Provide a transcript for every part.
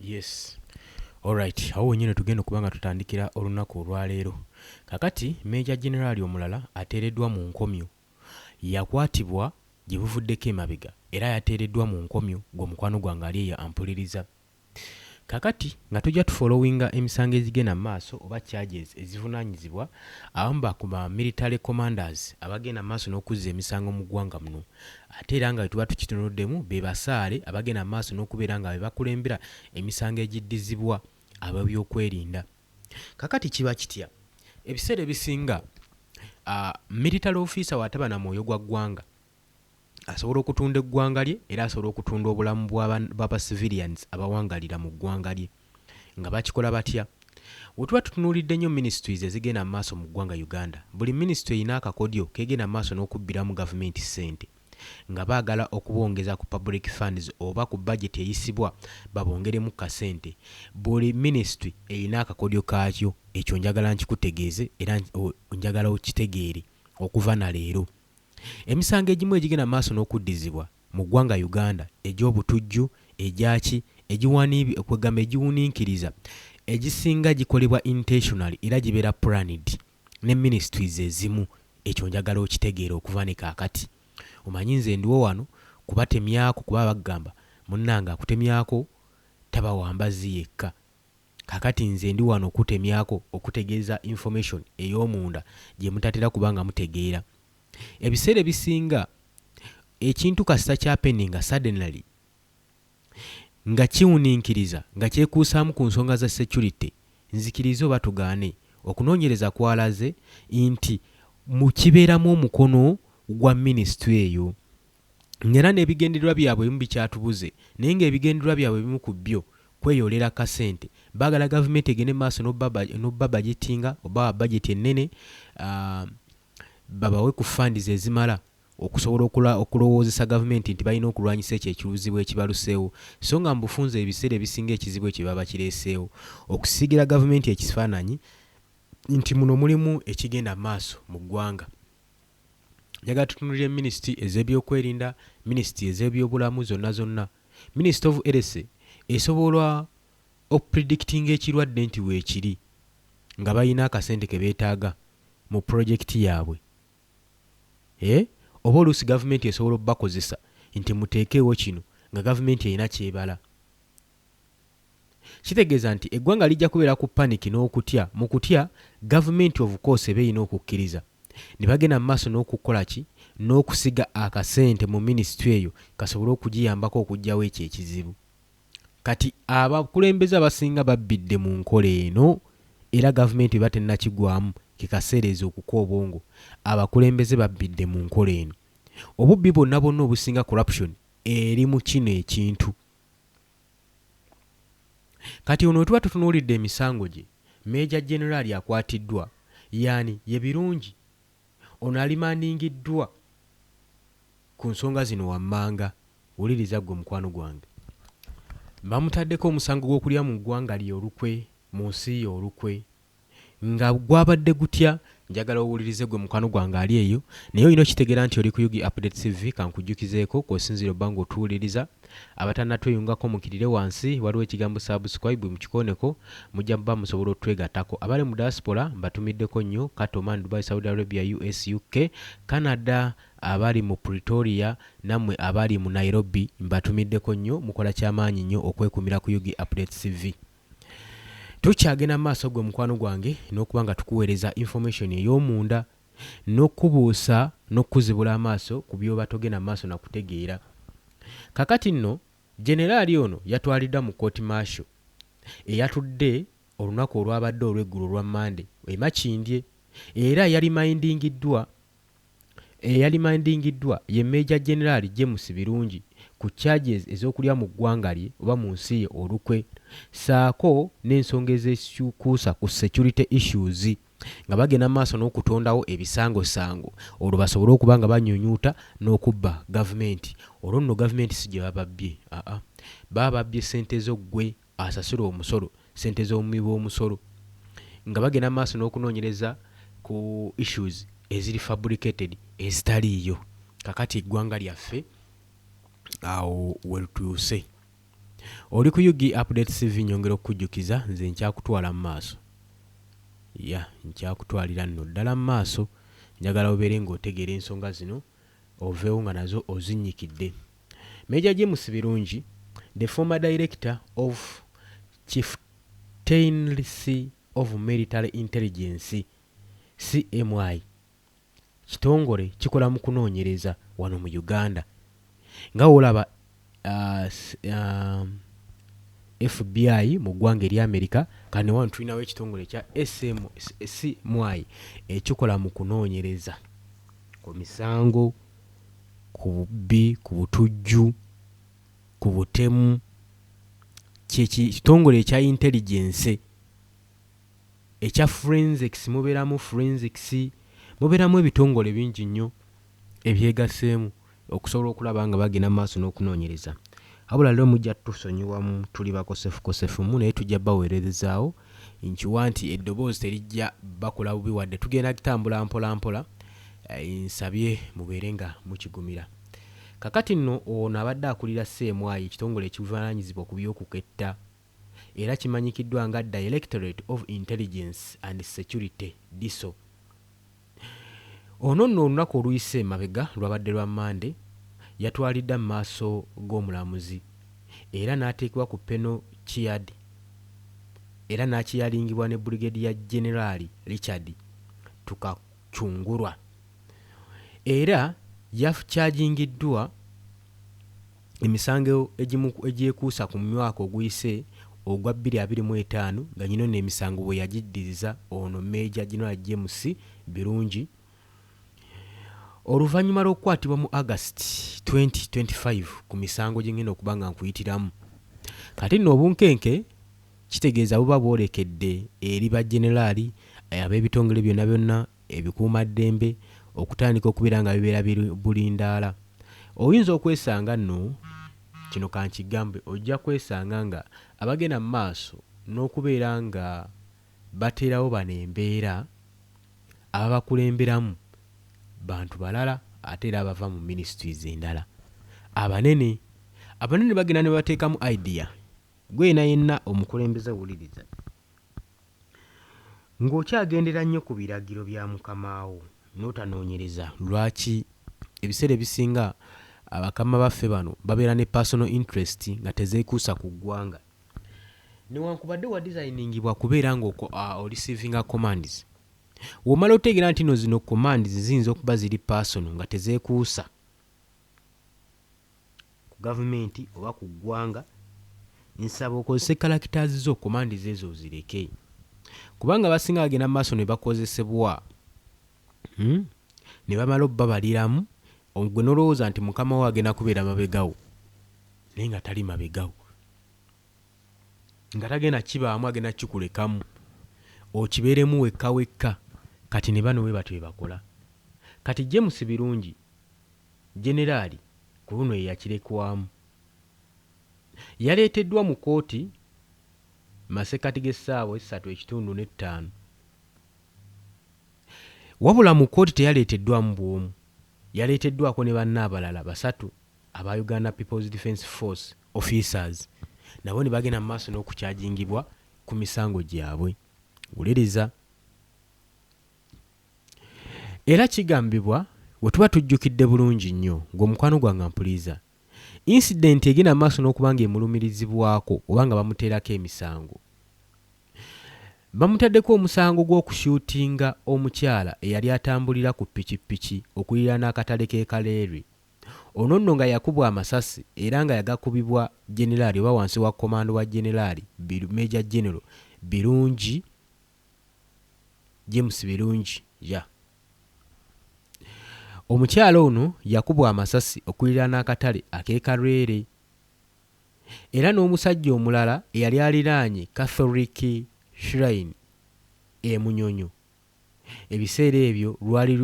yes alright awo wenyini tugenda okuba nga tutandikira olunaku olwaleero kakati meja generaali omulala ateereddwa mu nkomyo yakwatibwa gye buvuddeko emabega era yateereddwa mu nkomyo gwe mukwano gwange ali eyo ampuliriza kakati nga tujja tu followinga emisango egigenda mu maaso oba charges ezivunanyizibwa abamu ba ku ba military commanders abagenda mu maaso n'okuzza emisango mu ggwanga muno ate era nga bwe tuba tukitunuddemu be basaale abagenda mu maaso n'okubeera nga be bakulembera emisango egiddizibwa ab'ebyokwerinda. Kakati kiba kitya? Ebiseera ebisinga miritale ofiisa wataba na mwoyo gwa ggwanga asobola okutunda eggwanga lye era asobola okutunda obulamu bwaba civilians abawangalira mu ggwanga lye nga bakikola batya? Wetuba tutunuulidde nnyo ministries ezigenda mu maaso mu ggwanga Uganda, buli ministry erina akakodyo kegenda mu maaso n'okubbiramu gavumenti ssente. nga baagala okubongeza ku Public Funds oba ku Budget eyisibwa babongeremu ku kasente. Buli Ministry erina akakodyo kaakyo, ekyo njagala nkikutegeeze era njagala okitegeere okuva na leero. Emisango egimu egigenda mu maaso n'okuddizibwa mu ggwanga Uganda, egy'obutujju, egyaki, egiwaniib, kwegamba egiwuninkiriza, egisinga gikolebwa intentionally era gibeera planned. ne ministries ezimu ekyo njagala okitegeere okuva ne kakati omanyi nze ndiwo wano kubatemyako kuba bagamba munange akutemyako taba wambazzi yekka kakati nze ndi wano okukutemyako okutegeeza information eyomunda gyemutatera kuba nga mutegeera ebiseera ebisinga ekintu kasita kyapeninga suddenly nga kiwuninkiriza nga kyekuusaamu ku nsonga za securite, nzikirize oba tugaane, okunoonyereza kwalaze nti mu kibeeramu omukono gwa minisitule eyo, ng'era n'ebigendererwa byabwe ebimu bikyatubuze, naye ng'ebigendererwa byabwe ebimu ku byo kweyoolera kasente, baagala gavumenti egende mu maaso n'okubabajetinga oba bajeti ennene babawe ku funds ezimala. okusobola okulwa okulowoozesa gavumenti nti balina okulwanyisa ekyo ekiuzibu ekibaluseewo so nga mu bufunze ebiseera ebisinga ekizibu ekyo baba bakireeseewo okusiigira gavumenti ekifaananyi nti muno mulimu ekigenda mu maaso mu ggwanga. Njagala tutunulire minisiti ez'ebyokwerinda, minisiti ez'ebyobulamu zonna zonna. Minisiti of Elese esobola okupredictinga ekirwadde nti weekiri nga balina akasente ke beetaaga mu pulojekiti yaabwe. Eeh oba oluusi gavumenti esobola obakozesa nti muteekeewo kino nga gavumenti erina kyebala. Kitegeeza nti eggwanga lijja kubeera ku panic n'okutya mu kutya gavumenti of course eba erina okukkiriza nebagenda mu maaso n'okukolaki n'okusiga akasente mu ministry eyo kasobole okugiyambako okugyawo ekyo ekizibu. Kati abakulembeze abasinga babbidde mu nkola eno era gavumenti bweba tennakigwamu ke kaseera ezuukuke obwongo. Abakulembeze babbidde mu nkola eno. Obubbi bwonna bwonna obusinga corruption eri mu kino ekintu. Kati ono wetuba tutunuulidde emisango gye, Major Generali akwatiddwa, yaani? Ye Birungi. Ono alimandingiddwa ku nsonga zino wammanga. Wuliriza ggwe mukwano gwange. Bamutaddeko omusango gw'okulya mu ggwanga lye olukwe, mu nsi ye olukwe. Nga gwabadde gutya? Njagala owulirize ggwe mukwano gwange ali eyo, naye olina okitegeera nti oli ku Ug Updates TV. Kankujjukizeeko kw'osinziira obba ng'otuwuliriza. Abatanatweyungako mukirire wansi waliwo ekigambo subscribe mukikooneko mujja muba musobola otwegatako. Abali mu diaspora mbatumiddeko nnyo Qatar, Oman, Dubai, Saudi Arabia, US, UK, Canada, abali mu Pretoria nammwe abali mu Nairobi mbatumiddeko nnyo mukola kyamaanyi nnyo okwekuumira ku Yugi Updates TV. Tukyagenda mu maaso gwe mukwano gwange n'okuba nga tukuweereza information ey'omunda n'okukubuusa n'okukuzibula amaaso ku by'oba togenda mu maaso na kutegeera. Kaakati nno, Generaali ono yatwaliddwa mu Kkooti Martial eyatudde olunaku olwabadde olw'eggulo olwa Mmande e Makindye era yalimandingiddwa eyalimandingiddwa ye Major General James Birungi ku charges ez'okulya mu ggwanga lye oba mu nsi ye olukwe ssaako n'ensonga ez'ekuusa ku security issues. nga bagenda mu maaso n'okutondawo ebisangosango olwo basobole okuba nga banyunyuuta n'okubba gavumenti olwo nno gavumenti si gye bababbye aa baba babbye ssente zo ggwe asasula omusolo ssente z'omuwi w'omusolo nga bagenda mu maaso n'okunoonyereza ku issues eziri fabricated ezitaliiyo kakati eggwanga lyaffe awo wetuuse. Oli ku ug update CV nyongera okukujjukiza nze nkyakutwala mu maaso. Yeah nkyakutwalira nno ddala mu maaso. Njagala obeere nga otegeera ensonga zino oveewo nga nazo ozinnyikidde. Major James Birungi, the former director of Chieftaincy of Military Intelligence, CMI, kitongole kikola mu kunoonyereza wano mu Uganda nga wolaba FBI mu ggwanga erya Amerika kano wano tulinawo ekitongole ekya SMY ekikola mu kunoonyereza ku misango ku bubbi ku butujju ku butemu kyekitongole ekya intelligence. Ekya forensics muberamu forensics, muberamu ebitongole bingi nnyo ebyegaseemu okusobola okulaba nga bagenda mu maaso n'okunonyereza. Wabula lero mujja tusonyiwa tuli bakosefukosefu mu naye tujja bawererezaawo nkiwa nti eddoboozi terijja bakola bubi wadde tugenda tambula mpola mpola nsabye mubeere nga mukigumira. Kakati nno ono abadde akulira CMI ekitongole ekivunaanyizibwa ku by'okuketta, era kimanyikiddwa nga Directorate of Intelligence and Security, DISO. Ono nno olunaku oluyise emabega lwabadde lwa Mmande, yatwalidda mu maaso g'omulamuzi era n'ateekebwa ku Penal Ceard era n'akiyalingibwa ne Brigadier Generaali Richard Tukacungurwa era yafcajingiddwa Emisango egimu egyekuusa ku mwaka oguyise ogwa bbiri abiri mu etaano nga nyino no emisango bweyagiddiriza ono Major General James Birungi Oluvanyuma lwokukwatibwa mu August twenty twenty five ku misango gyengenda okuba nga nkuyitiramu kati nno obunkenke kitegeeza buba bwolekedde eri ba Generali abebitongole byonna byonna ebikuumaddembe okutandika okubeera nga bibeera bulindaala oyinza okwesanga nno kino kankigambe ojja kwesanga nga abagenda mu maaso n'okubeera nga bateerawo bano embeera ababakulemberamu bantu balala ate era abava mu ministries endala abanene abanene bagenda nebateekamu idea gwe yena yenna omukulembeze wuliriza Ng'okyagendera nnyo ku biragiro bya mukama wo n'otanoonyereza, lwaki ebiseera ebisinga bakama baffe bano babeera ne personal interest nga tezeekuusa ku ggwanga? Newankubadde wa designingibwa kubeera nga o receivinga commands, womala otegeera ntino zino commands ziyinza okuba ziri personal nga tezeekuusa. ku gavumenti oba ku ggwanga, nsaba okozese characters zo, command zo ezo ozireke kubanga abasinga bagenda mu maaso ne bakozesebwa hmm? ne bamala obbabaliramu gwe nolowooza nti mukama wo agenda kubeera mabegawo naye nga tali mabegawo nga tagenda kibaamu agenda kikulekamu okibeeremu wekka wekka kati ne bano we batyo bebakola kati james birungi Generali ku luno ye yakirekwamu. Yaleeteddwa mu kkooti mu masekkati g'essaawa essatu ekitundu n'ettaano wabula mu kkooti teyaleeteddwamu bw'omu, yaleeteddwako ne banne abalala basatu aba Uganda People's Defence Force officers nabo ne bagenda mu maaso n'okukyajingibwa ku misango gyabwe. Wuliriza. Era kigambibwa wetuba tujjukidde bulungi nnyo ng'omukwano gwange ampuliiza, incident egenda mu maaso n'okuba ng'emulumirizibwako oba nga bamuteerako emisango. Bamutaddeko omusango gw'okushootinga omukyala eyali atambulira ku ppikippiki okuliraana akatale k'e Kaleerwe. Ono nno nga yakubwa amasasi era nga yagakubibwa Generaali oba wansi wa komando wa Generaali Meeja Genero Birungi. James Birungi yeah. Omukyala ono yakubwa amasasi okuliraana akatale ak'e Karwere era n'omusajja omulala eyali aliraanye Catholic Shrine e Munyonyo. Ebiseera ebyo lwali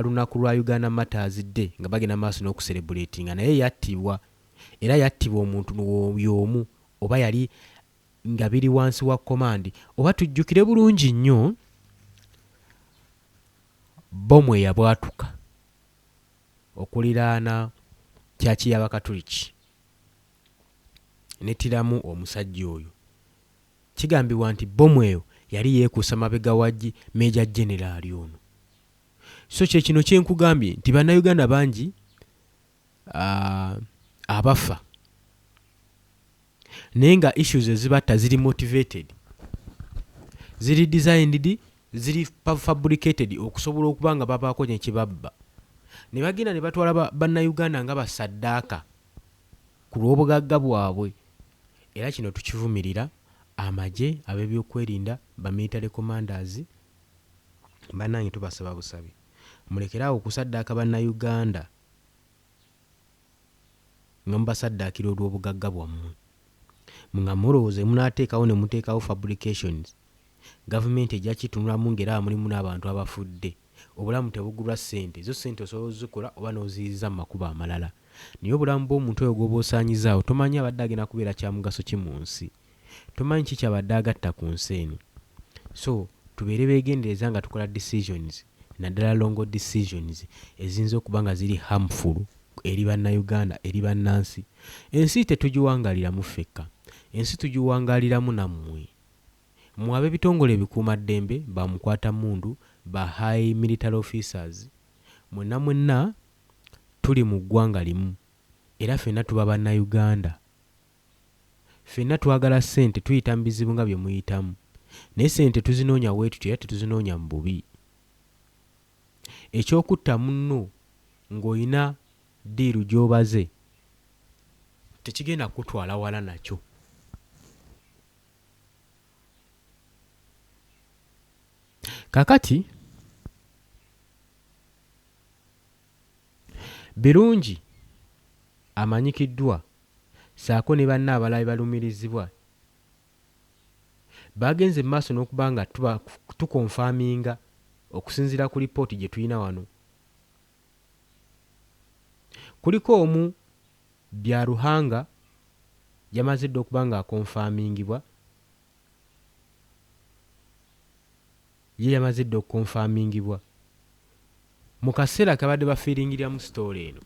lunaku lwa Uganda Martyrs Day nga bagenda maaso n'okuserebuleetinga naye yattibwa era yattibwa omuntu y'omu oba yali nga biri wansi wa komandi oba tujjukire bulungi nnyo bbomu eyabwatuka okuliraana kyaki y'abakatuliki netiramu omusajja oyo kigambibwa nti bbomu eyo yali yeekuusa mabega wa meeja generaali ono so kyekino kyenkugambye nti bannayuganda bangi aah abafa naye nga issues ezibatta ziri motivated, ziri designed, ziri fabricated okusobola okuba nga babaako nekibabba nebagenda nebatwala ba banauganda nga ba saddaaka kulwobugagga bwabwe era kino tukivumirira amagye, abebyokwerinda, ba military commanders banange tubasaba busabi mulekere awo okusaddaaka banauganda. nga mubasaddaakira olw'obugagga bwammwe nga mulowooza bye munaateekawo ne muteekawo fabrications gavumenti ejja kitunulamu ng'eraba mulimu n'abantu abafudde. Obulamu tebugulwa ssente, zo ssente osobola ozikola oba n'oziyiza mu makubo amalala naye obulamu bw'omuntu oyo gw'oba osaanyizaawo tomanya abadde agenda kubeera kyamugaso ki mu nsi. tomanyi ki kyabadde agatta ku nsi eno so tubeere begendereza nga tukola decisions naddala longo decisions eziyinza okuba nga ziri harmful eri bannauganda eri bannansi ensi tetugiwangaliramu ffekka ensi tugiwangaliramu nammwe mwe abebitongole ebikuuma ddembe ba mukwata mmundu ba high military officers mwenna mwenna tuli mu ggwanga limu era fenna tuba bannauganda. Ffenna twagala ssente, tuyita mu bizibu nga bye muyitamu, naye ssente tetuzinoonya bwe tutyo era tetuzinoonya mu bubi. Eky'okutta munno ng'olina ddiiru gy'obaze tekigenda kukutwala wala nakyo. Kaakati Birungi amanyikiddwa saako ne banne abalala bebalumirizibwa Bagenze mu maaso n'okuba nga tuba tukonfaminga okusinziira ku lipooti gyetulina wano kuliko omu Byaruhanga yamaze dda okuba nga akonfamingibwa ye yamaze dda okukonfamingibwa mu kaseera kebabadde bafiiringiriramu sitoola eno.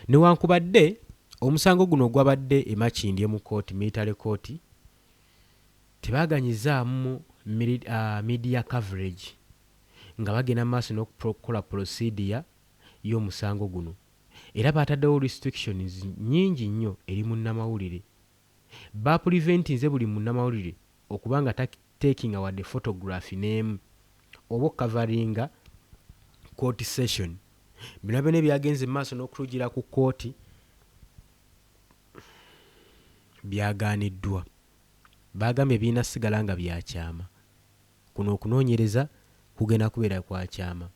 Newankubadde omusango guno ogwabadde e Makindye mu kkooti, Military Court, tebaaganyizaamu media coverage nga bagenda mu maaso n'okukola pulosidiya y'omusango guno era baataddewo restrictions nnyingi nnyo eri munnamawulire. Baapuliventinze buli munnamawulire okuba nga ta takinga wadde photography n'emu oba okukavaringa court session. Bino byona ebyagenze mu maaso n'okutujira ku kkooti byagaaniddwa. Baagambye birina sigala nga bya kyama. Kuno okunoonyereza kugenda kubeera kwa kyama.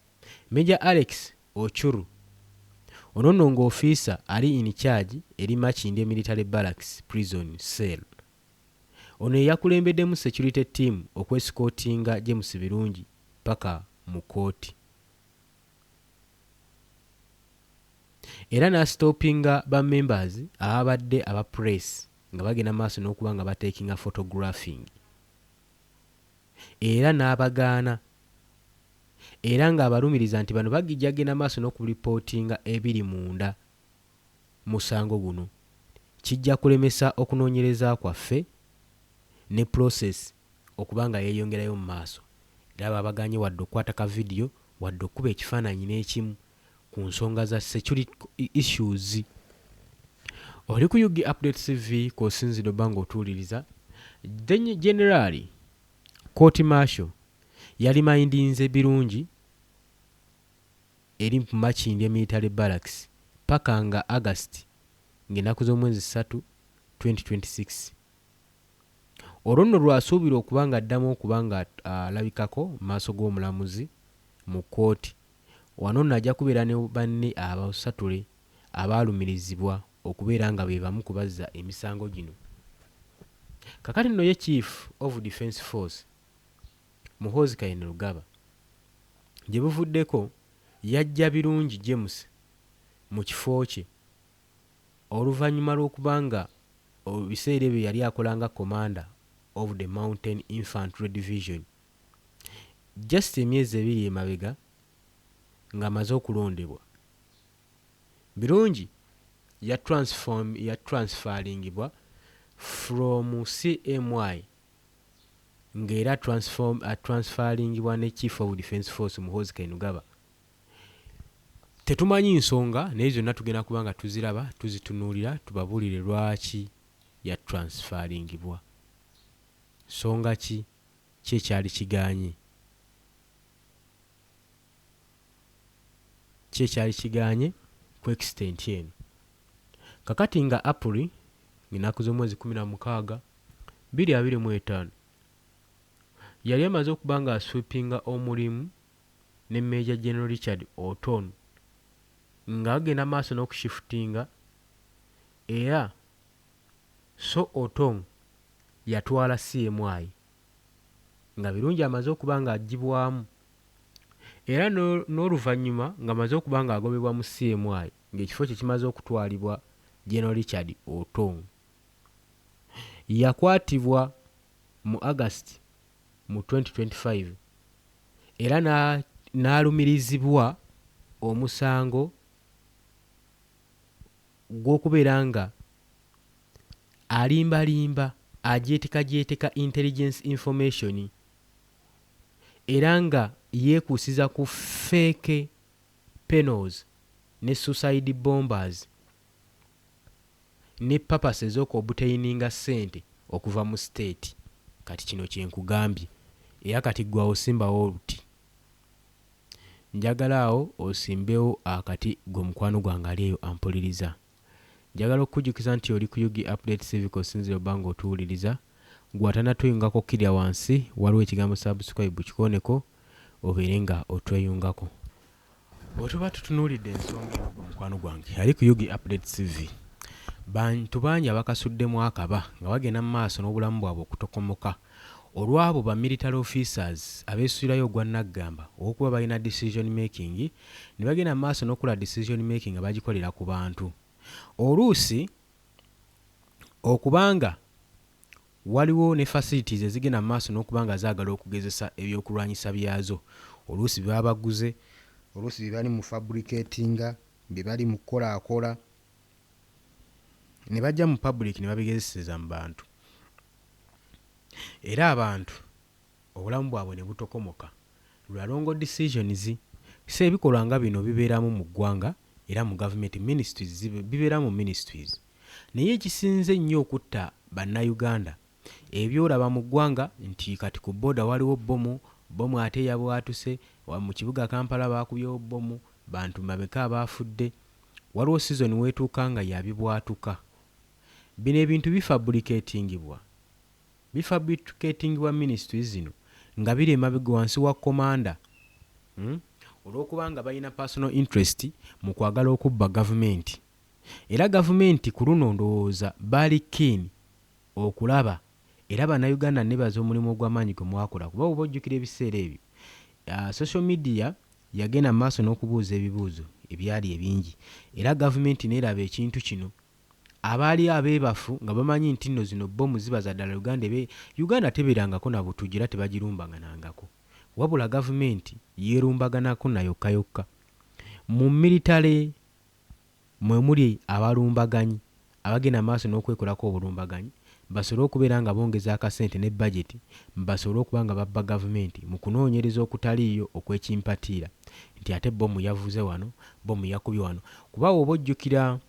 Major Alex Ochuru, Ono nno ng'ofiisa ali in charge eri Makindye Military Barracks Prison Cell. Ono yeyakulembeddemu security team okwesikotinga James Birungi paka mu kooti era nastopinga ba members ababadde aba press nga bagenda maaso nokuba nga batekinga photographing era nabagaana era nga abalumiriza nti bano bagijagenda maaso nokulipotinga ebiri munda musango guno kijja kulemesa okunoonyereza kwaffe ne process okuba nga yeeyongerayo mu maaso era baabagaanye wadde okukwata ka vidiyo wadde okukuba ekifaananyi n'ekimu ku nsonga za security issues. Oli ku UG Update TV kw'osinzidde obba ng'otuwuliriza. Generali Court Martial yalimindinze birungi eri mpu Makindye Military Barracks paka nga August ng'enaku z'omwezi ssatu, 2026. Olwo nno lw'asuubirwa okuba ng'addamu okuba nga alabikako mu maaso g'omulamuzi mu kkooti. Wano nno ajja kubeera ne banne abasatule abaalumirizibwa okubeera nga be bamu ku bazza emisango gino. Kakati nno ye Chief of Defence Force, Muhoozi Kainerugaba. Gye buvuddeko yaggya Birungi James mu kifo kye oluvannyuma lw'okuba nga mu biseera ebyo yali akola nga Commander of the Mountain Infantry Division. Just emyezi ebiri emabega ng'amaze okulondebwa, Birungi ya transform ya transferringibwa from CMI nga era transform atransferingibwa ne chief of defence force Muhoozi Kainugaba tetumanyi nsonga naye zonna tugenda kuba nga tuziraba tuzitunuulira tubabuulire lwaki ya transferingibwa nsonga ki ki ekyali kigaanye Ki ekyali kigaanye ku extent eno? Kakati nga Apuli ng'enaku z'omwezi kkumi na mukaaga bbiri abiri mu etaano, yali emaze okuba nga asweepinga omulimu ne Major General Richard Oton nga bagenda maaso n'okushifutinga era so Otong yatwala CMI nga Birungi amaze okuba nga aggyibwamu. era n'oluvannyuma ng'amaze okuba ng'agobebwa mu CMI ng'ekifo kye kimaze okutwalibwa General Richard Otong. Yakwatibwa mu August mu twenty twenty five era n'alumirizibwa omusango gw'okubeera nga alimbalimba agyetekagyeeteka intelligence information. era nga yeekuusiza ku fake penos ne suicide bombers ne purpose ez'okuobtaininga ssente okuva mu state. Kati kino kye nkugambye era kati ggwe awo simbawo oluti. Njagala awo osimbewo akati ggwe mukwano gwange ali eyo ampuliriza. Njagala okukujukiza nti oli ku Ug Update TV kosinzira oba nga otuwuliriza. Gwe atanatuyungako kilya wansi waliwo ekigambo subscribe kikoneko obeere nga otweyungako. Bwetuba tutunulidde ensonga eno gwe mukwano gwange ali ku Ug Update TV bantu bangi abakasuddemu akaba nga bagenda mu maaso nobulamu bwabwe okutokomoka. Olw'abo ba military officers abesuirayo ogwa naggamba ow'okuba balina decision making ne bagenda mu maaso n'okukola decision making nga bagikolera ku bantu. Oluusi okuba nga waliwo ne facilities ezigenda mu maaso n'okuba nga zaagala okugezesa eby'okulwanyisa byazo, oluusi bye baba baguze, oluusi bye bali mu fabricatinga, bye bali mu kukolaakola, ne bajja mu public ne babigezeseza mu bantu. era abantu obulamu bwabwe ne butokomoka lwa wrong decisions so ebikolwa nga bino bibeeramu mu ggwanga era mu government ministries zibe bibeera mu ministries naye ekisinze ennyo okutta bannayuganda ebyolaba mu ggwanga nti kati ku boda waliwo bbomu, bbomu ate eyabwatuse wa mu kibuga Kampala baakubyewo bbomu bantu bameka abaafudde waliwo season weetuuka nga ya bibwatuka. Bino ebintu bifabricatingibwa bifabricatingibwa ministries zino nga biri emabega wansi wa commander uhmm olwokuba nga balina personal interest mu kwagala okubba gavumenti era gavumenti kuluno ndowooza baali keen okulaba era banauganda nnebaza omulimu ogwamaanyi gwe mwakola kuba woba ojjukira ebiseera ebyo ahh social media yagenda mu maaso nokubuuza ebibuuzo ebyali ebingi era gavumenti nelaba ekintu kino Abaali abebafu nga bamanyi ntinno zino bbomu ziba zadala Uganda ebe Uganda teberangako na butujju era tebagirumbaganangako wabula gavumenti yerumbaganako na yokka yokka. Mu military mwemuli abalumbaganyi abagenda maaso nokwekolako obulumbaganyi basobole okubeera nga bongeza akasente ne budget basobole okuba nga babba gavumenti mu kunoonyereza okutaliiyo okwekimpatiira nti ate bbomu yavuze wano, bbomu yakubye wano kuba woba ojjukira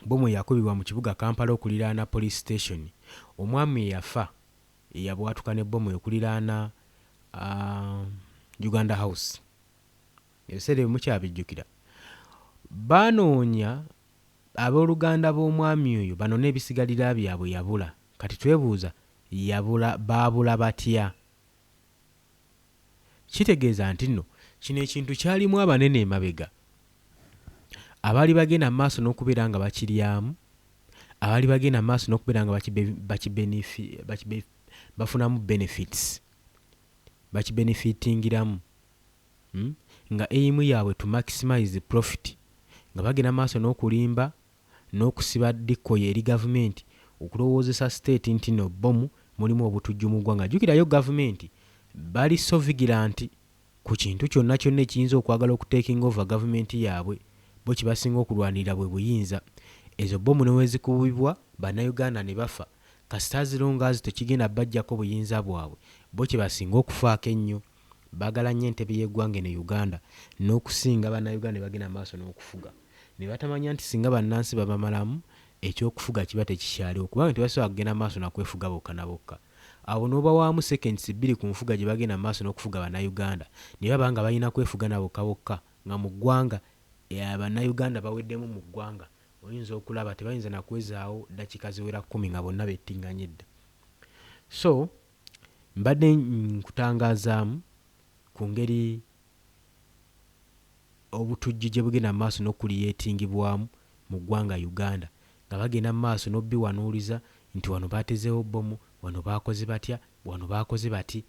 bbomu eyakubibwa mu kibuga Kampala okuliraana Police Station, omwami eyafa eyabwatuka ne bbomu okuliraana Uganda House. Ebiseera ebyo mukyabijjukira? Baanoonya abooluganda b'omwami oyo banone ebisigalira byabwe yabula. Kati twebuuza yabula baabula batya? Kitegeeza nti nno kino ekintu kyalimu abanene emabega abaali bagenda mu maaso n'okubeera nga bakiryamu, abaali bagenda mu maaso n'okubeera nga bafunamu benefits, bakibenefitingiramu, nga aim yaabwe to maximize profit, nga bagenda mu maaso n'okulimba, n'okusiba dikkoye eri gavumenti okulowoozesa state ntino bbomu mulimu obutujju mu ggwanga. Jjukira yo gavumenti bali so vigillant ku kintu kyonna kyonna ekiyinza okwagala oku taking over gavumenti yaabwe. Bbo kyebasinga okulwanirira bwe buyinza. Ezo bbomu newezikubibwa bannayuganda ne bafa kasita as long as tekigenda bajjako buyinza bwabwe bbo kyebasinga okufaako ennyo. bagala nnyo entebe y'eggwanga eno e Uganda n'okusinga Bannayuganda ne bagenda mu maaso n'okufuga ne batamanya nti singa bannansi babamalamu, eky'okufuga kiba tekikyaliwo kubanga tebasobola kugenda mu maaso na kwefuga bokka na bokka. Awo n'obawaamu seconds bbiri ku nfuga gye bagenda mu maaso n'okufuga Bannayuganda ne baba nga balina kwefuga na bokka bokka nga mu ggwanga Bannayuganda baweddemu mu ggwanga oyinza okulaba tebayinza na kwezaawo ddakiika ziwera kkumi nga bonna bettinganye dda. So. Mbadde nkutangazaamu ku ngeri obutujju gye bugenda mu maaso n'okukuliyeetingibwamu mu ggwanga Uganda nga bagenda mu maaso n'obiwanuuliza nti wano baatezeewo bbomu, wano baakoze batya, wano baakoze bati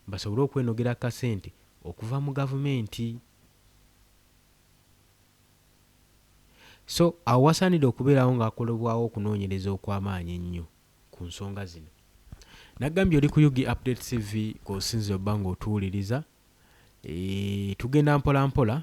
basobole okwenogera ku kasente okuva mu gavumenti. So awo wasaanidde okubeerawo ng'akolebwawo okunoonyereza okw'amaanyi ennyo. ku nsonga zino. Nagambye oli ku Ug Update TV kw'osinzira obba ng'otuwuliriza. Eeh, tugenda mpola mpola.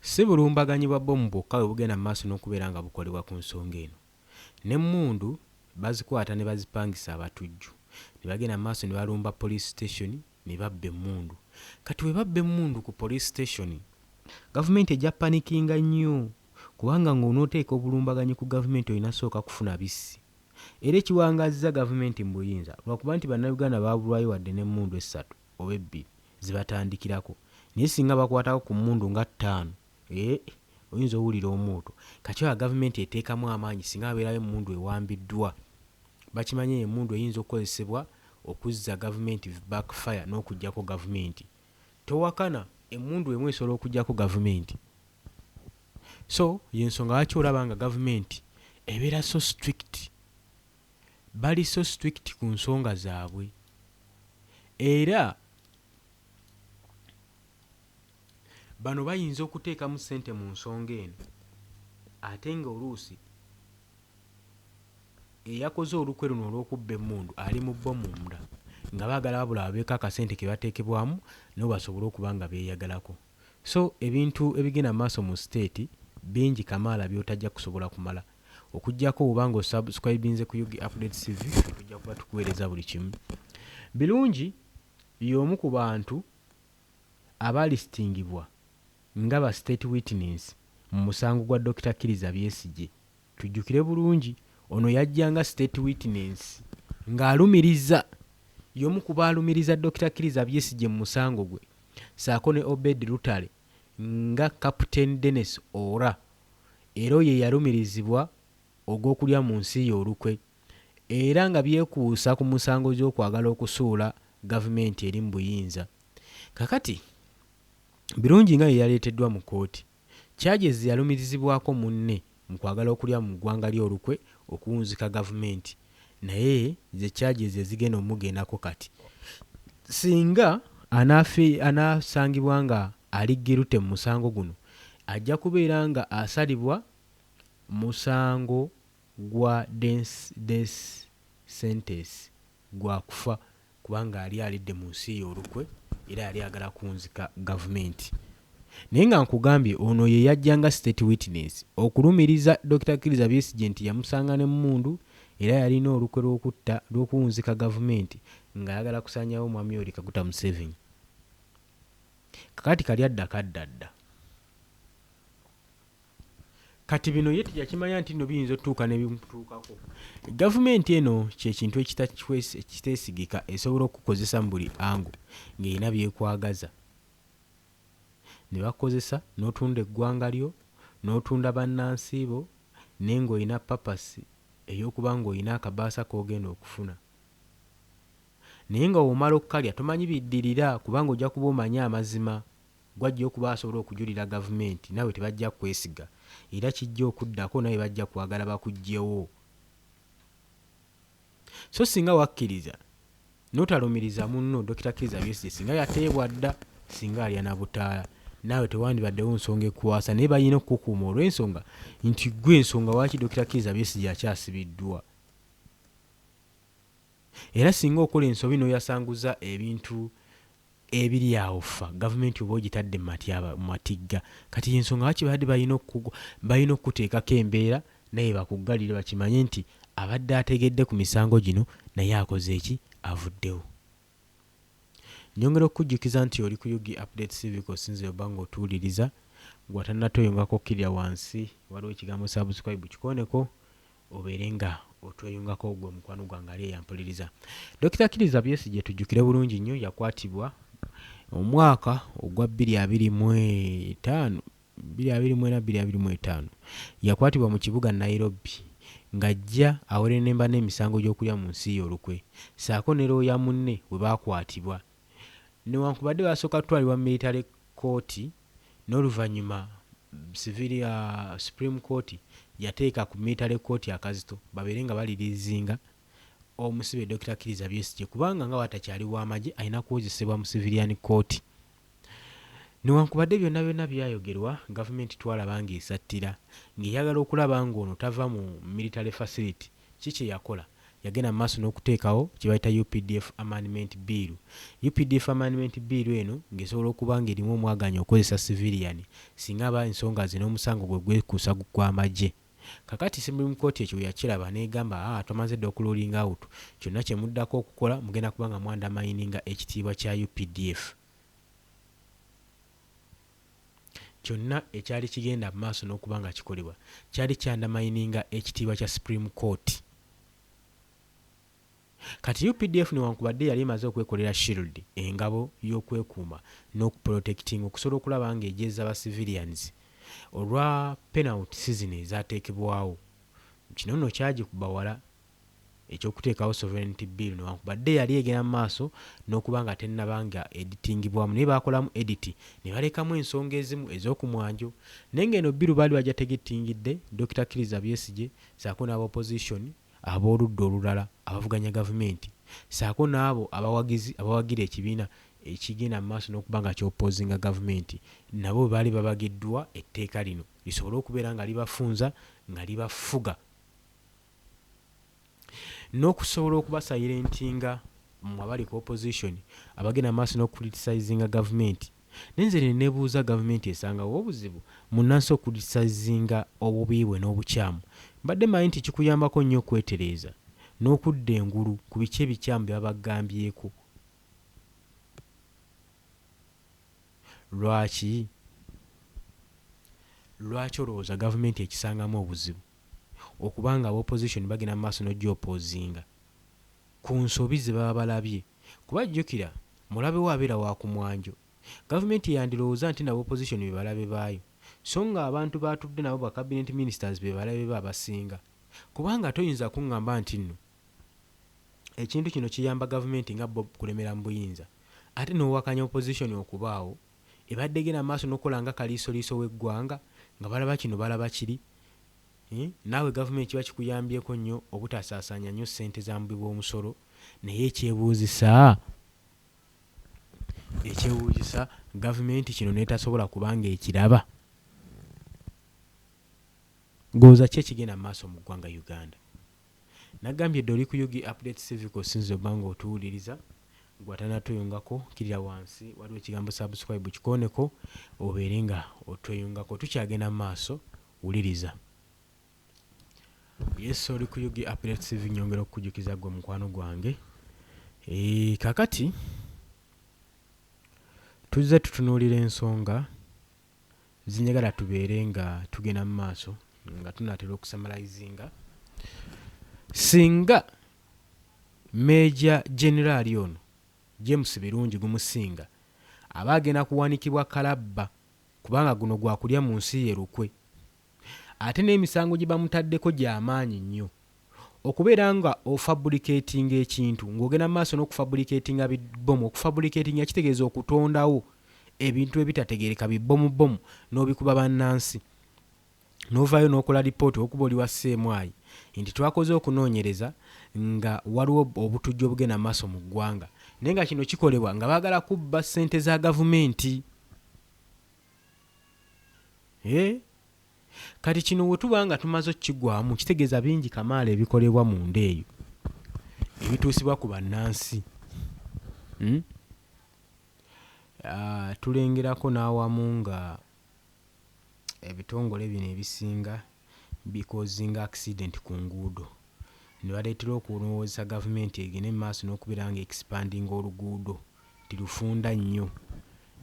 Si bulumbaganyi bwa bbomu bwokka bwe bugenda mu maaso n'okubeera nga bukolebwa ku nsonga eno. N'emmundu bazikwata ne bazipangisa abatujju ne bagenda mu maaso ne balumba poliisi sitesoni ne babba emmundu. Kati bwe babba emmundu ku poliisi sitesoni, gavumenti ejja panikinga nnyo kubanga ng'onooteeka obulumbaganyi ku gavumenti olina kusooka kufuna bissi era ekiwangaazizza gavumenti mu buyinza lwakuba nti Bannayuganda baabulwayo wadde n'emmundu essatu. oba ebbiri zebatandikirako naye singa bakwatako ku mmundu nga ttaano eeh oyinza owulira omwoto. Kati olaba gavumenti eteekamu amaanyi singa wabeerawo emmundu ewambiddwa. Bakimanyi eyo emmundu eyinza okukozesebwa okuzza gavumenti back fire n'okuggyako gavumenti. Towakana emmundu emu esobola okuggyako gavumenti. So y'ensonga lwaki olaba nga gavumenti ebeera so strict. bali so strict ku nsonga zaabwe era bano bayinza okuteekamu ssente mu nsonga eno ate ng'oluusi eyakoze olukwe luno olw'okubba emmundu ali mu bo munda nga baagala wabula babeeko akasente ke bateekebwamu nabo basobole okuba nga beeyagalako. So ebintu ebigenda mu maaso mu siteeti bingi kamaala by'otajja kusobola kumala okujjako woba nga osubscribinze ku ug update tv tujja kuba tukuweereza buli kimu birungi y'omu ku bantu abalistingibwa nga ba state witness mu musango gwa dokita kiriza byesigye tujjukire bulungi ono yajja nga state witness ng'alumiriza y'omu ku baalumiriza dokita kiriza byesigye mu musango gwe saako ne obed lutale nga Captain Denis Ora era oyo eyalumirizibwa ogw'okulya mu nsi ye olukwe era nga byekuusa ku musango gy'okwagala okusuula gavumenti eri mu buyinza. Kakati Birungi nga yeyaleeteddwa mu kkooti, charges yalumirizibwako munne, mu kwagala okulya mu ggwanga lye olukwe okuwunzika gavumenti naye ze charges ze zigenda omugendako kati singa anaafi anaasangibwa nga ali guilty mu musango guno ajja kubeera nga asalibwa musango gwa dence death sentence gwa kufa. kubanga yali alidde mu nsi ye olukwe era yali ayagala kunzika gavumenti naye nga nkugambye ono ye yajja nga state witness okulumiriza Dokita Kiriza Besigye nti yamusanga n'emmundu era yalina olukwe lw'okutta lw'okuwunzika gavumenti nga ayagala kusaanyawo Omwami Yoweri Kaguta Museveni kakati kali adda kadda dda. Kati bino ye teyakimanya nti nno biyinza otutuuka ne bimutuukako. Gavumenti eno kye kintu ekiteesigika, esobola okukukozesa mu buli angu ng'erina by'ekwagaza. Ne bakukozesa n'otunda eggwanga lyo, n'otunda bannansi bo naye ng'olina papasi ey'okuba ng'olina akabaasa k'ogenda okufuna. Naye nga bw'omala okukalya tomanyi biddirira kubanga ojja kuba omanyi amazima. Gw'ajja okuba asobola okujulira gavumenti naawe tebajja kukwesiga era kijja okuddako naawe bajja kwagala bakuggyewo. So singa wakkiriza n'otalumiriza munno Dokita Kizza Besigye singa yateebwa dda, singa alya na butaala naawe tewandibaddewo nsonga ekukwasa naye balina okukukuuma olw'ensonga nti ggwe nsonga lwaki Dokita Kizza Besigye akyasibiddwa. Era singa okola ensobi n'oyasanguza ebintu ebiri awo ffa gavumenti oba ogitadde mu matyaba, mu matigga. Kati y'ensonga lwaki babadde balina oku, balina okukuteekako embeera naye bakuggalire bakimanye nti abadde ategedde ku misango gino naye akoze ki? Avuddewo. Nnyongera okukujjukiza nti oli ku Ug Updates TV kw'osinzira obba ng'otuwuliriza. Ggwe atannatoyongako kkirira wansi waliwo ekigambo subscribe kikooneko obeere nga otweyungako gwe mukwano gwange ali eyampuliriza Dokita Kiriza Besigye tujjukire bulungi nnyo yakwatibwa omwaka ogwa 2025 2025 yakwatibwa mu kibuga Nairobi ng'ajja awerenemba n'emisango gy'okulya mu nsi ye olukwe ssaako ne looya munne we baakwatibwa newankubadde baasooka kutwalibwa mu miritale kkooti n'oluvannyuma civil supreme court yateeka ku military court akazito babeere nga baliriizinga omusibe Dokita Kiriza Besigye kubanga nga bwatakyali w'amagye alina kuwozesebwa mu civilian court. Newankubadde byonna byonna byayogerwa, gavumenti twalaba ng'esattira ng'eyagala okulaba ng'ono tava mu military facility Ki kye yakola? Yagenda mu maaso n'okuteekawo kye bayita updf Amendment Bill. Updf Amendment Bill eno ng'esobola okuba ng'erimu omwagaanya okukozesa siviliyani singa aba ensonga ze n'omusango gwe gwekuusa ku gw'amagye. Kaakati Supreme Court ekyo bwe yakiraba n'egamba, Haa, twamaze dda okuruulinga awutu. Kyonna kye muddako okukola mugenda kuba nga mwandamayininga ekitiibwa kya updf. Kyonna ekyali kigenda mu maaso n'okuba nga kikolebwa kyali kyandamayininga ekitiibwa kya Supreme Court. Kati updf newankubadde yali emaze okwekolera shield, engabo, y'okwekuuma n'okuprotectinga okusobola okulaba nga egyeza ba civilians olwa penalty sizini ezaateekebwawo, kino nno kyagikuba wala. eky'okuteekawo Sovereignty Bill newankubadde yali egenda mu maaso n'okuba nga tennaba nga editingibwamu naye baakolamu edit ne balekamu ensonga ezimu ez'oku mwanjo naye nga eno bbiru baali bajja tegettingidde Dokita Kiriza Besigye ssaako n'aba opposition ab'oludda olulala abavuganya gavumenti ssaako n'abo abawagizi abawagira ekibiina ekigenda mu maaso n'okuba nga ky'oppozinga gavumenti nabo baali babagiddwa etteeka lino lisobole okubeera nga libafunza nga libafuga. nokusobola okuba silentinga mwe abali ku opposition abagenda maaso no criticizinga gavumenti naye nze nenebuuza gavumenti esangawa obuzibu munansi okuriticizinga obubi bwe nobukyamu mbadde manyi nti kikuyambako nnyo okwetereeza nokudda engulu ku biki ebikyamu byebabagambyeko lwaki lwaki olowooza gavumenti ekisangamu obuzibu. okuba nga aba opposition bagenda mu maaso n'oja oppozinga ku nsobi ze baba balabye kuba jjukira mulabe wo abeera wa ku mwanjo. Gavumenti yandirowooza nti nabo opposition be balabe baayo so nga abantu b'atudde nabo ba cabinet ministers be balabe be abasinga kubanga toyinza kungamba nti nno ekintu kino kiyamba gavumenti nga bo kulemera mu buyinza ate n'owakanya opposition okubaawo ebadde egenda mu maaso n'okukola nga kaliisoliiso w'eggwanga nga balaba kino balaba kiri, naawe gavumenti kiba kikuyambyeko nnyo obutasaasaanya nnyo ssente za mubi b'omusolo naye ekyebuuzisa ekyebuuzisa gavumenti kino n'etasobola kuba ng'ekiraba ng'olowooza ki ekigenda mu maaso mu ggwanga Uganda? Nagambye dda oli ku ug updates tv kosinze oba nga otuwuliriza gwe atanatweyungako kilira wansi waliwo ekigambo subscribe kikoneko obeere nga otweyungako tukyagenda mu maaso wuliriza yes oli ku ug updates tv nyongera okukujukiza gwe mukwano gwange e, kakati tuzze tutunuulira ensonga Nze njagala tubeere nga tugenda mu maaso nga tunaatera okusamalayizinga. Singa Meeja Generaali ono, James Birungi Gumusinga aba agenda kuwanikibwa kalabba kubanga guno gwa kulya mu nsi ye lukwe. ate n'emisango gye bamutaddeko gya maanyi nnyo. Okubeera nga ofabulikeetinga ekintu ng'ogenda mu maaso n'okufabulikeetinga bi bbomu, okufabulikeetinga kitegeeza okutondawo ebintu ebitategeereka bi bbomu bbomu n'obikuba bannansi n'ovaayo n'okola lipooti okuba oli wa sseemwayi nti twakoze okunoonyereza nga waliwo obutujju obugenda mu maaso mu ggwanga naye nga kino kikolebwa nga baagala kubba ssente za gavumenti. Eeh Kati kino wetuba nga tumaze okukigwamu kitegeza bingi kamaala ebikolebwa munda eyo ebituusibwa ku bannansi hmm? Uh, tulengerako n'awamu nga ebitongole bino ebisinga bikoozinga accident ku nguudo ne baleetera okulowoozesa gavumenti egende mu maaso n'okubeera nga expandinga oluguudo nti lufunda nnyo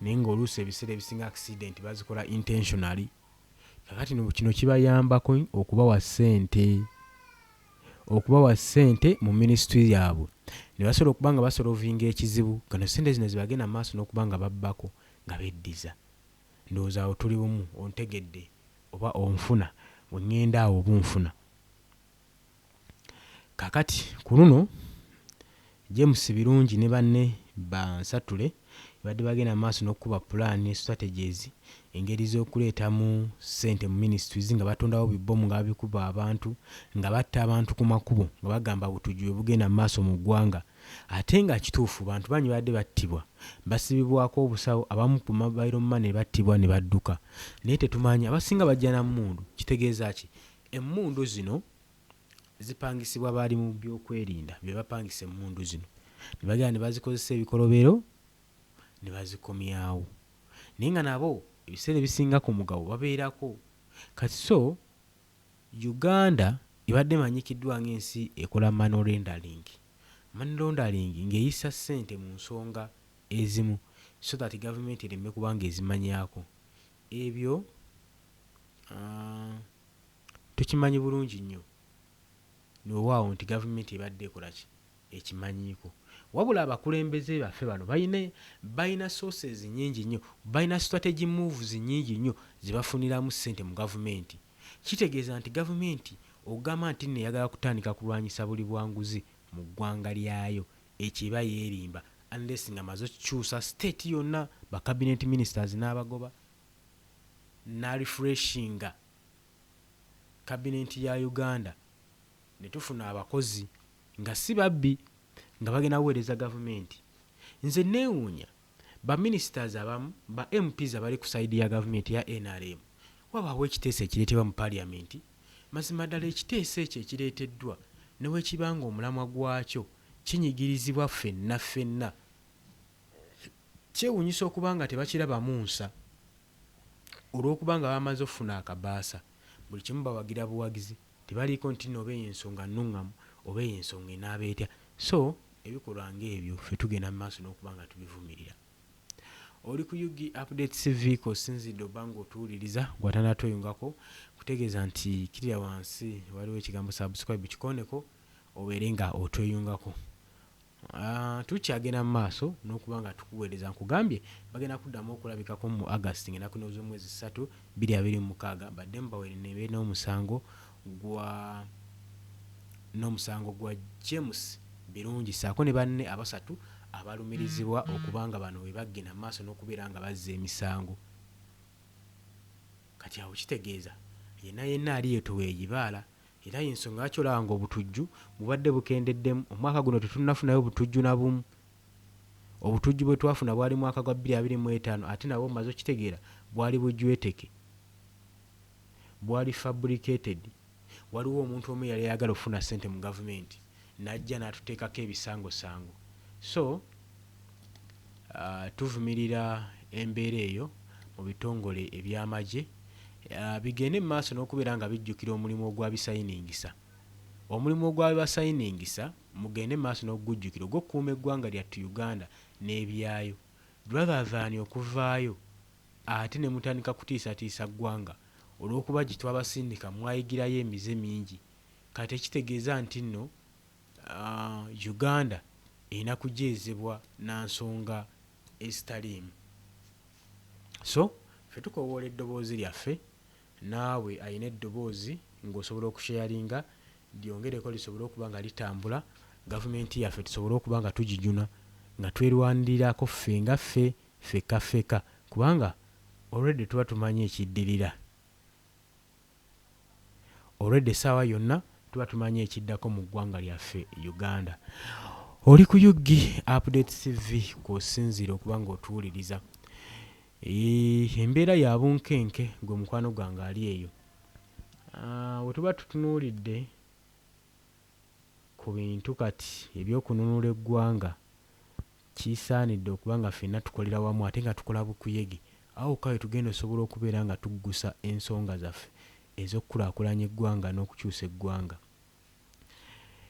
naye nga oluusi ebiseera ebisinga accident bazikola intentionally kakati no kino kibayambako okubawa ssente okubawa ssente mu ministry yaabwe ne basobola okuba nga basolovinga ekizibu kano ssente zino zibagenda mu maaso n'okuba nga babbako nga beddiza Ndowooza awo tuli bumu. Ontegedde, oba onfuna? Bwe ŋŋenda awo, oba onfuna? Kaakati, ku luno, James Birungi ne banne ba nsatule babadde bagenda mu maaso n'okukuba pulaani ne strategies, engeri z'okuleetamu ssente mu ministries, nga batondawo bi bbomu nga babikuba abantu, nga batta abantu ku makubo, nga bagamba obutujju bwe bugenda mu maaso mu ggwanga. Ate nga kituufu bantu bangi babadde battibwa, basibibwako obusawo, abamu ku mobile money battibwa ne badduka naye tetumanyi abasinga bajja na mmundu. Kitegeeza ki? Emmundu zino zipangisibwa baali mu byokwerinda be bapangisa emmundu zino ne bagenda ne bazikozesa ebikolobero ne bazikomyawo naye nga nabo ebiseera ebisinga ku mugabo babeerako kati so Uganda ebadde emanyikiddwa ng'ensi ekola money rendering, money laundering, ng'eyisa ssente mu nsonga ezimu so that gavumenti ereme kuba ng'ezimanyaako. Ebyo tukimanyi bulungi nnyo weewaawo nti gavumenti ebadde ekolaki, ekimanyiiko wabula abakulembeze bafe bano balina balina sources nyingi nnyo balina strategy moves nyingi nnyo zebafuniramu sente mu gavumenti kitegeeza nti gavumenti ogamba nti nno eyagala kutandika kulwanyisa buli bwanguzi mu ggwanga lyayo ekyo eba yerimba unless nga maze okukyusa state yonna ba cabinet ministers nabagoba na refreshinga cabinet ya Uganda ne tufuna abakozi nga si babbi nga bagenda kuweereza gavumenti nze nneewuunya ba ministers abamu ba MPs abali ku side ya gavumenti eya nrm wabaawo ekiteeso ekireetebwa mu parliament mazima ddala ekiteeso ekyo ekireeteddwa newekiba nga omulamwa gwakyo kinyigirizibwa ffenna ffenna kyewunyisa okuba nga tebakirabamu nsa olwokuba nga bamaze okufuna akabaasa buli kimu bawagira buwagizi. Tebaliiko ntinna oba eyo ensonga nnungamu oba eyo ensonga enaaba etya. So, ebikolwa nga ebyo ffe tugenda mu maaso n'okuba nga tubivumirira. Oli ku ug updates vehicle osinzidde oba nga otuwuliriza gwe atanatweyungako nkutegeeza nti kirira wansi waliwo ekigambo subscribe kikooneko obeere nga otweyungako. Tukyagenda mu maaso n'okuba nga tukuweereza. Nkugambye bagenda kuddamu okulabikako mu August ng'ennaku ne z'omwezi ssatu, bbiri abiri mu mukaaga baddemu bawere ne be n'omusango gwa n'omusango gwa James Birungi ssaako ne banne abasatu abalumirizibwa okuba nga bano be baggenda mu maaso n'okubeera nga bazza emisango. Kati awo kitegeeza yenna yenna aliyetowa egibaala Era y'ensonga lwaki olaba ng'obutujju bubadde bukendeddemu. Omwaka guno tetunnafunayo butujju na bumu. Obutujju bwe twafuna bwali mwaka gwa bbiri abiri mu etaano ate nabwo mmaze okitegeera bwali bujweteke, bwali fabricated. Waliwo omuntu omu eyali ayagala okufuna ssente mu gavumenti. najja natutekako ebisango sango so tuvumirira embeera eyo mu bitongole ebyamagye bigende mu maaso nokubeera nga bijjukira omulimu ogwabisayiningisa Omulimu ogwabibasayiningisa mugende mu maaso nokugujjukira ogwokukuuma eggwanga lyattu Uganda nebyaayo rather than okuvaayo ate nemutandika kutiisatiisa ggwanga olwokuba gyetwabasindika mwayigirayo emize mingi Kati ekitegeeza ntinno uh, Uganda erina kujeezebwa na nsonga ezitaliimu. So ffe tukowoola eddoboozi lyaffe, naawe alina eddoboozi ng'osobola okusheyaringa lyongereko lisobole okuba nga litambula, gavumenti yaffe tusobole okuba nga tugijuna nga twerwanirirako ffe nga ffe ffekka ffeka kubanga already tuba tumanyi ekiddirira. Olwedda essaawa yonna tuba tumanyi ekiddako mu ggwanga lyaffe Uganda. Oli ku UG Update TV kw'osinziira okuba ng'otuwuliriza. Eeh, embeera ya bunkenke, gwe mukwano gwange ali eyo. Ah, we tuba tutunuulidde ku bintu kati eby'okununula eggwanga, Kisaanidde okuba nga ffenna tukolera wamu ate nga tukola bukuyege. Awo wokka we tugenda osobola okubeera nga tuggusa ensonga zaffe ez'okukulaakulanya eggwanga n'okukyusa eggwanga.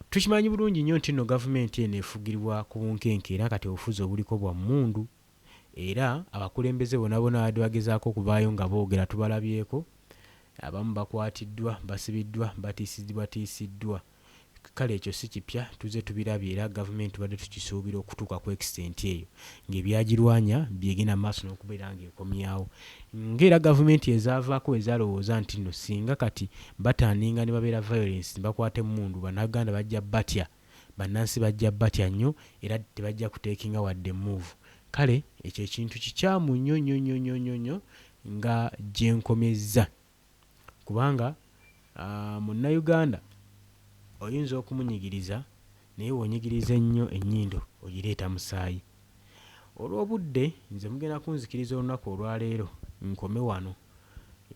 Tukimanyi bulungi nnyo nti nno gavumenti eno efugirwa ku bunkenke era kati obufuzi obuliko bwa mmundu era abakulembeze bonabona ababadde bagezaako okuvaayo nga boogera tubalabyeko, abamu bakwatiddwa, basibiddwa, batiisizibwatiisiddwa. Kale ekyo si kipya, tuzze tubirabye era Gavumenti tubadde tukisuubira okutuuka ku extent eyo ng'ebyagirwanya byegenda mu maaso n'okubeera ng'ekomyawo nga era Gavumenti ezaavaako bwe zaalowooza nti nno singa kati batandinga ne babeera violence ne bakwata emmundu Bannaganda bajja batya bannansi bajja batya nnyo era tebajja kutekinga wadde move kale ekyo ekintu kikyamu nnyo nnyo nnyo nnyo nnyo nnyo nga gye nkomezza. kubanga Munnayuganda oyinza okumunyigiriza naye bw'onyigiriza ennyo ennyindo ogireeta musaayi. Olw'obudde nze mugenda kunzikiriza olunaku olwaleero nkome wano.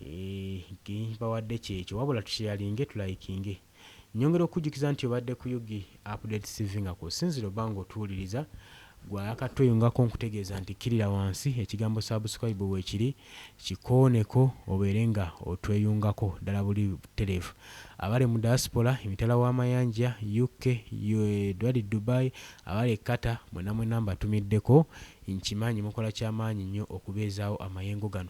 Eeh kye mbawadde ky'ekyo wabula tusheyalinge tulayikinge. Nyongera okukujjukiza nti obadde ku Ug Updates TV nga kwosinzira oba nga otuwuliriza gwe ayakattweyungako nkutegeeza nti kkirira wansi ekigambo subscribe weekiri kikooneko obeere nga otweyungako ddala buli butereevu abali mu diaspora emitala w'amayanja UK edwali Dubai abali e Qatar mwena mwena mbatumiddeko nkimanyi mukola kyamaanyi nnyo okubeezaawo amayengo gano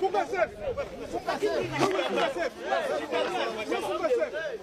Fuga safe.